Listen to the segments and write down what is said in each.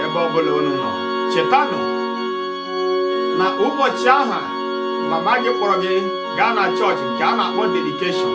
ebe ọbụla unu nọ chetanụ na ụbọchị aha mama gị kpọrọ gị gaa na chọọchị nke a na-akpọ dedikeshọn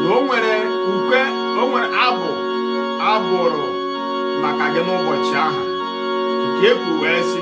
na o nwere ukwe o nwere abụ a bụrụ maka gị n'ụbọchị aha nke ekwu wee sị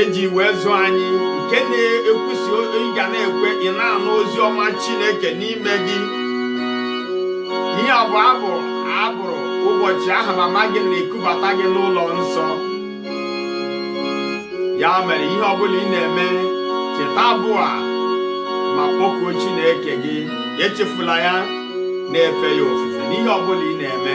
e ji wee zụ anyị nke na-ekwu sị ị ga na-ekwe ị na-anụ ozi ọma Chineke n'ime gị ihe a bụ abụ a bụrụ ụbọchị aha mama gị na-ekubata gị n'ụlọ nsọ ya mere ihe ọbụla ị na-eme cheta abụ a ma kpọkuo Chineke gị echefula ya na-efe ya ofufe n'ihe ọbụla ị na-eme